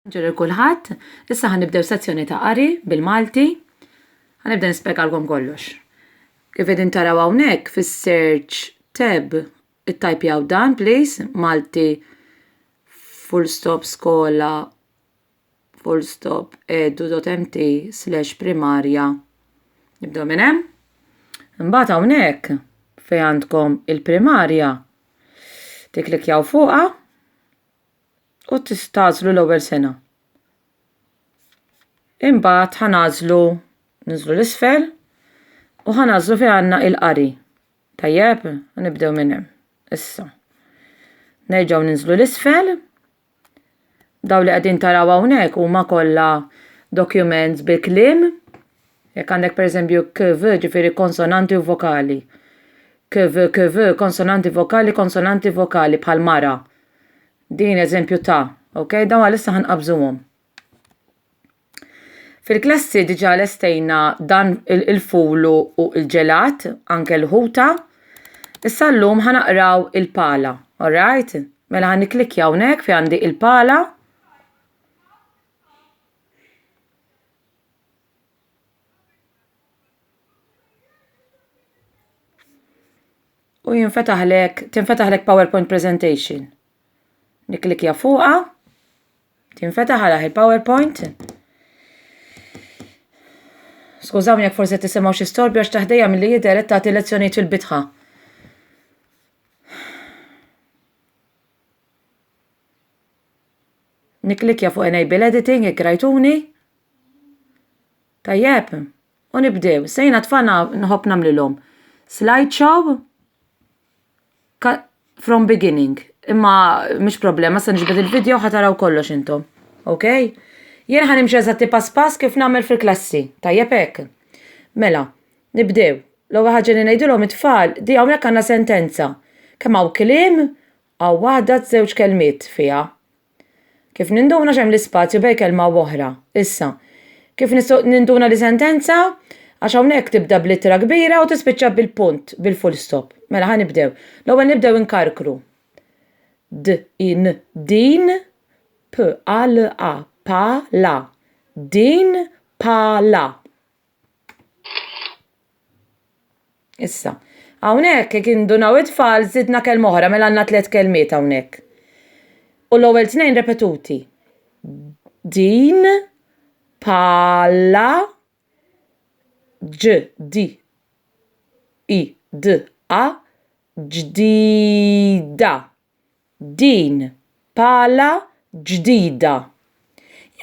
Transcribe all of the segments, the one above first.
Ġer il-kulħadd, issa ħan nibdew sezzjoni ta' qari bil-Malti. Ħan nibda nispjegalkom kollox. Kif qegħdin taraw hawnhekk fis-search tab ittajpjaw dan please Malti full stop skola full stop edu.mt slash primarja. Nibdew minn hemm. Imbagħad hawnhekk fejn għandkom il-primarja tiklikjaw fuqha u tagħżlu l-ewwel sena. Imbagħad ħa nagħżlu niżlu l isfel u ħa nagħżlu fejn għandna il-qari. Tajjeb, nibdew minn hemm. Issa. Nerġgħu ninżlu l isfel. Daw li qegħdin taraw hawnhekk huma kollha documents bil-kliem Jekk għandek pereżempju kv, ġifieri konsonanti u vokali. Kv, kv, konsonanti vokali, konsonanti vokali bħal mara. Din eżempju ta', ok? Dawn għalissa ħanqabżuhom. Fil-klassi diġa lestejna dan il-fulu u il-ġelat, anke l-ħuta. Issa l-lum ħanaqraw il-pala, alright? Mela ħan niklikja unek fi għandi il-pala. u jinfetaħlek, tinfetaħlek PowerPoint presentation. Niklikja fuqa, tinfetaħ għalaħ il-PowerPoint. Skużawni jekk forse tisimgħu xi storbi għax taħdejja milli jidher qed tagħti lezzjonijiet fil-bitħa. Nikklikkja fuq Enable Editing jekk rajtuni. Tajjeb, u nibdew. Sejna tfana nħobb nagħmlilhom. Slideshow from beginning. Imma mhux problema, se niġbed il-video ħataraw kollox intom. Ok? Jien ħan imxi eżatti pass pass kif nagħmel fil-klassi. Tajjeb hekk. Mela, nibdew. L-ewwel ħaġa li ngħidilhom it-tfal, di hawnhekk għandna sentenza. Kemm hawn kliem Hawn waħda żewġ kelmiet fiha. Kif ninduna x'hemm l-ispazju bej kelma u oħra? Issa, kif nistgħu ninduna li sentenza? Għax hawnhekk tibda b'littra kbira u tispiċċa bil-punt, bil-fullstop. Mela ħa nibdew. L-ewwel nibdew inkarkru. D, i, n, din, p, a, l, a, pa, la. Din, pa, la. Issa, hawnhekk jekk indunaw it-tfal żidna kelma oħra mela għandna tliet kelmiet hawnhekk. U l-ewwel tnejn repetuti. Din palla ġ di i d a ġdida. din pala ġdida.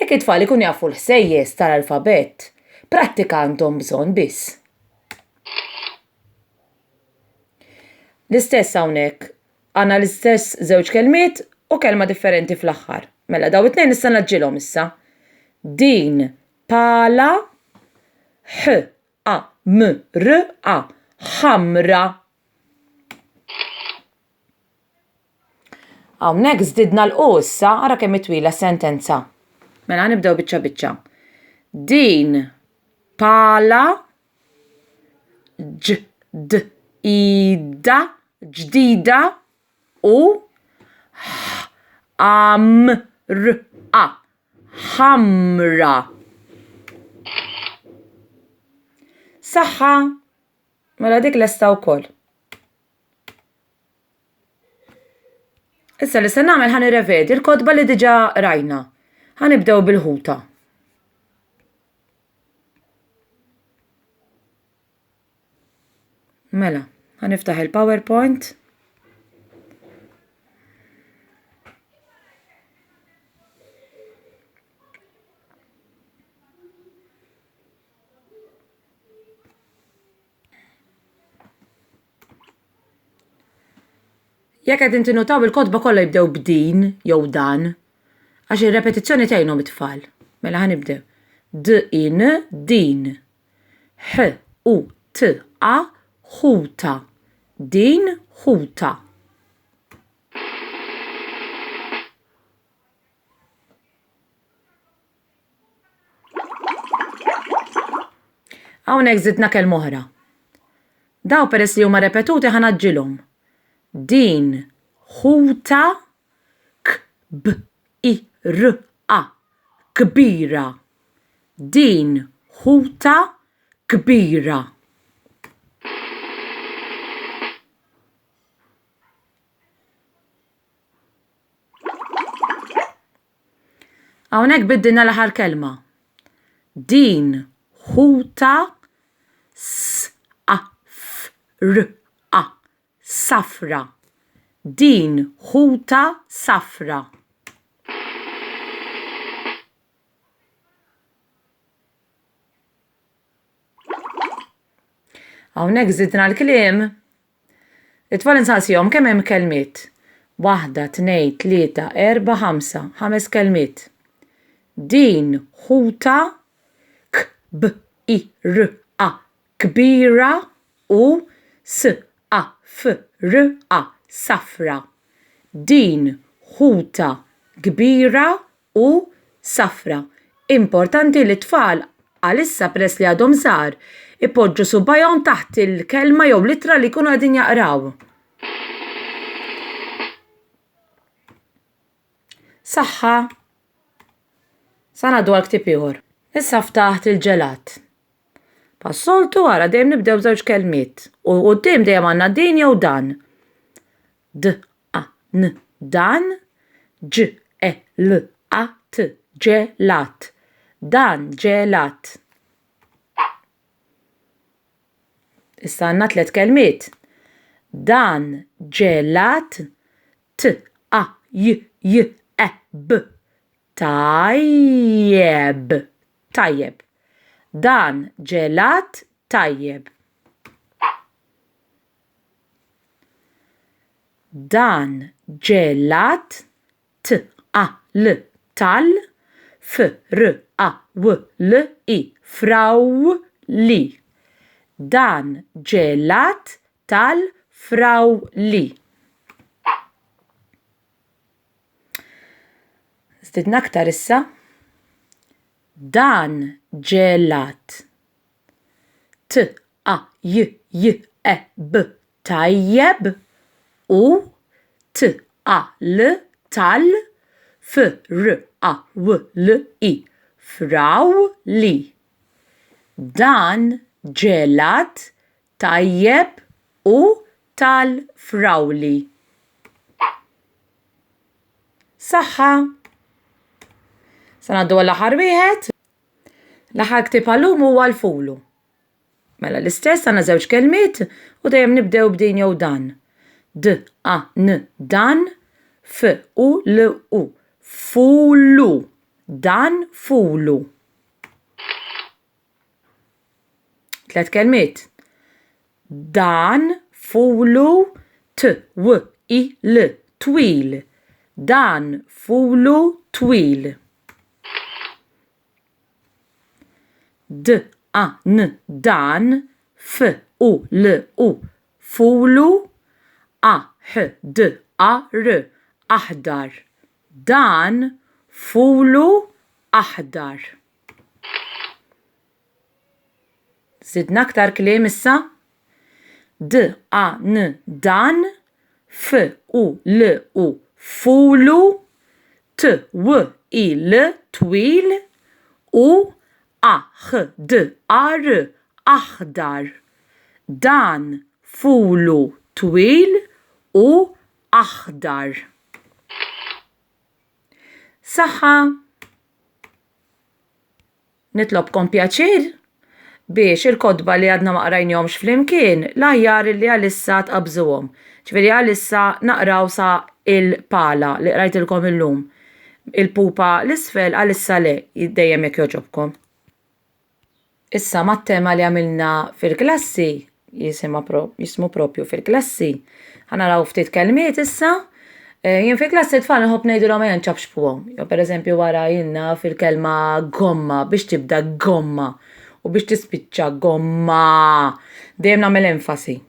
Jekk it-tfal ikunu jafu l-ħsejjes tal-alfabett, prattika għandhom bżonn biss. L-istess hawnhekk. Għandna l-istess żewġ kelmiet u kelma differenti fl-aħħar. Mela daw it-tnejn nista' naġġilhom issa. Din pala ħ a m r a ħamra. Hawnhekk żdidna l-qu issa, ara kemm twila sentenza. Mela nibdew biċċa biċċa. Din pala ġ d ida ġdida u ħamra ħamra. Saħħa! Mela dik lesta wkoll. Issa li se nagħmel ħan irrevedi l-kotba li diġà rajna. Ħan ibdew bil-ħuta. Mela, ħan iftaħ il-PowerPoint. Jekk qegħdin tinutaw il-kotba kollha jibdew b'din jew dan, għax ir-repetizzjoni tgħinhom it-tfal. Mela ħa nibdew. D in din. H u t a ħuta. Din ħuta. Hawnhekk żidna kelma oħra. Daw peress li huma repetuti ħa naġġilhom. Din ħuta k b i r a kbira. Din ħuta kbira. Hawnhekk biddilna l-aħħar kelma. Din ħuta safra. Safra. Din ħuta safra. Hawnhekk żidna l-kliem. It-tfal insaqsihom kemm hemm kelmiet. Waħda, tnejn, tlieta, erba', ħamsa, ħames kelmiet. Din ħuta k b i r a kbira u s a f r a safra. Din ħuta kbira u safra. Importanti li t-tfal, għalissa peress li għadhom żgħar, ipoġġu subajhom taħt il-kelma jew l-ittra li jkunu qegħdin jaqraw. Saħħa! Sa ngħaddu għal ktieb ieħor. Issa ftaħt il-ġelat. Pas-soltu ara dejjem nibdew żewġ kelmiet u quddiem dejjem għandna din jew dan. d a n dan ġ e l a t ġelat dan ġelat Issa għandna tliet kelmiet. Dan ġelat t a j j e b tajjeb tajjeb Dan ġelat tajjeb. Dan ġe lat t a l tal f r a w l i fraw li Dan ġe l-att tal-frawli. Żdidna aktar issa Dan ġe l-att. t a j j e b tajjeb u t a l tal f r a w l i frawli. Dan ġelat tajjeb u tal-frawli. Saħħa. Sa ngħaddu għall-aħħar wieħed. L-aħħar ktieb għallum huwa l-Fulu. Mela l-istess għandna żewġ kelmiet u dejjem nibdew b'din jew dan. D, a, n, dan, f, u, l, u. Fulu. Dan fulu. Tlet kelmiet. Dan fulu t w i l twil. Dan fulu twil. D a n dan f u l u fulu a h d a r aħdar. Dan fulu aħdar. Żidna aktar kliem issa. D, a, n, dan. F, u, l, u, fulu. T, w, i, l, twil. U, a, h, d, ar, aħdar. Dan fulu twil u aħdar. Saħħa! Nitlobkom pjaċir biex il-kotba li għadna ma qrajnihomx flimkien l-aħjar li għalissa tqabżuhom. Ġifieri għalissa naqraw sa il-pala li qrajtilkom illum. Il-pupa l-isfel għalissa le, dejjem jekk jogħġobkom. Issa mat-tema li għamilna fil-klassi jisimha pro- jismu propju fil-klassi. Ħanaraw ftit kelmiet issa. Eh, Jien fil-klassi tfal nħobb ngħidilhom ejja nċapxpuhom. Jew pereżempju wara jilna fil-kelma gomma biex tibda gomma u biex tispiċċa gomma. Dejjem nagħmel enfasi.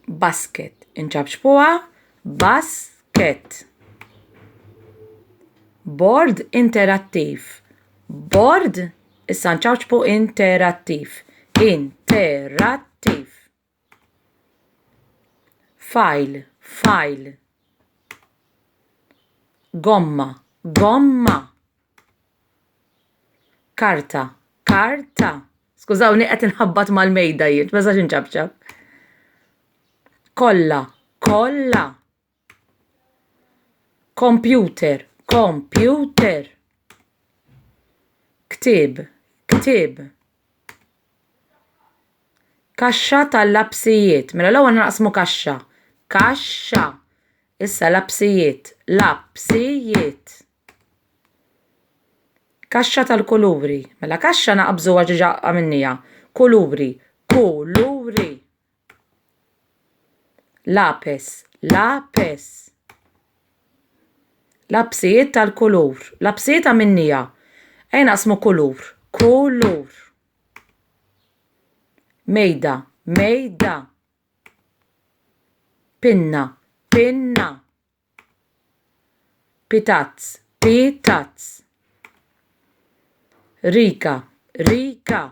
basket. Inċabċbuha basket. Bord interattiv. Bord issa nċabċbu interattiv. Interattiv. File, file. Gomma, gomma. Karta, karta. Skużawni qed inħabbat mal-mejda jien, ma sax inċabċab. Kolla, kolla. Computer, computer. Ktib, ktib. Kaxxa tal-lapsijiet. Mela l-ewwel naqsmu kaxxa. Kaxxa. Issa lapsijiet, lapsijiet. Kaxxa tal-kuluri. Mela kaxxa naqbżu għax diġa għamilnija. Kuluri. Kuluri. Lapis. Lapis. Lapsijiet tal-kulur. Lapsijiet għamilnija. Ej naqsmu kulur. Kulur. Mejda. Mejda. Pinna. Pinna. Pitazz, pitazz. Rika, rika.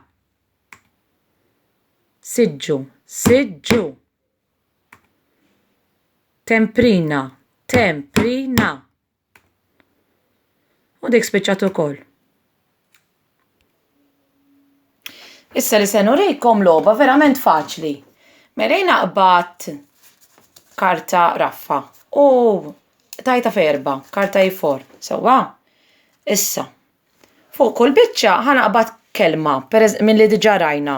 Siġġu, siġġu. Temprina, temprina. U dik spiċċat ukoll. Issa li se nurikom logħba verament faċli. Merejna qbad karta raffa u tajta ferba, karta jifor, e sewwa? Issa, fuq kull biċċa ħanaqbad kelma mill-li diġa rajna.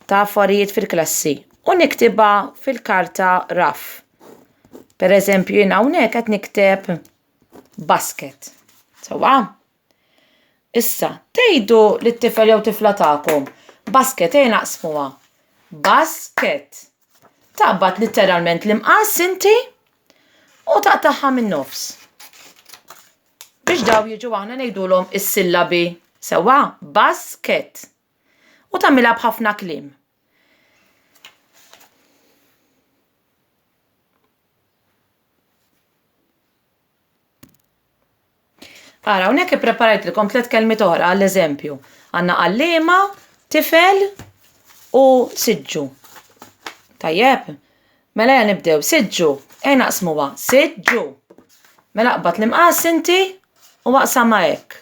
ta' affarijiet fil-klassi u niktibha fil-karta raff. Per eżempju, jien hawnhekk qed nikteb basket. Sewwa? Issa, tgħidu lit-tifel jew tifla tagħkom, basket ejja naqsmuha. Basket. Taqbad litteralment l-imqas inti u taqtagħha min-nofs. Biex dawn jiġu aħna ngħidulhom is-sillabi. Sewwa? Basket. U tagħmilha b'ħafna kliem. Ara, hawnhekk ippreparajtlkom tliet kelmiet oħra għall-eżempju. Għandna għalliema, tifel u siġġu. Tajjeb, mela ja nibdew, siġġu, ej naqsmuha, siġġu. Mela qbad l-imqas inti u waqsama hekk.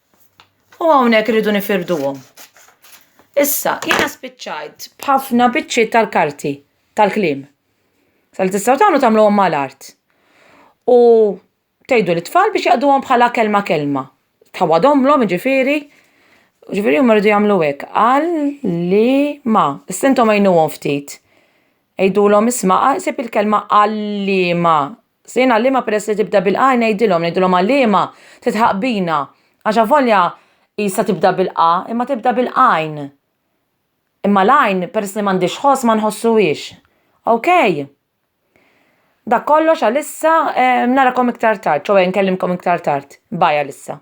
U hawnhekk irridu nifirduhom. Issa, jiena spiċċajt b'ħafna biċċiet tal-karti, tal-kliem. Sa li tistgħu tagħmlu tagħmluhom mal-art. U tgħidu lit-tfal biex jaqduhom bħala kelma kelma. Tgħawwadhomlhom jiġifieri, jiġifieri huma jridu jagħmlu hekk, għal-li-ma. Issa intom għinuhom ftit. Għidulhom isma' ħsib il-kelma għal-liema. Sejn għal-liema peress li tibda bil-qa ngħidilhom, ngħidilhom għal-liema titħaq bina, għax avolja qisha tibda bil-qa imma tibda bil-qajn. Imma l-għajn peress li m'għandhiex ħoss ma nħossuhiex. Ok? Dak kollox għalissa, narakom iktar tard, ċoe nkellimkom iktar tard. Bye għalissa.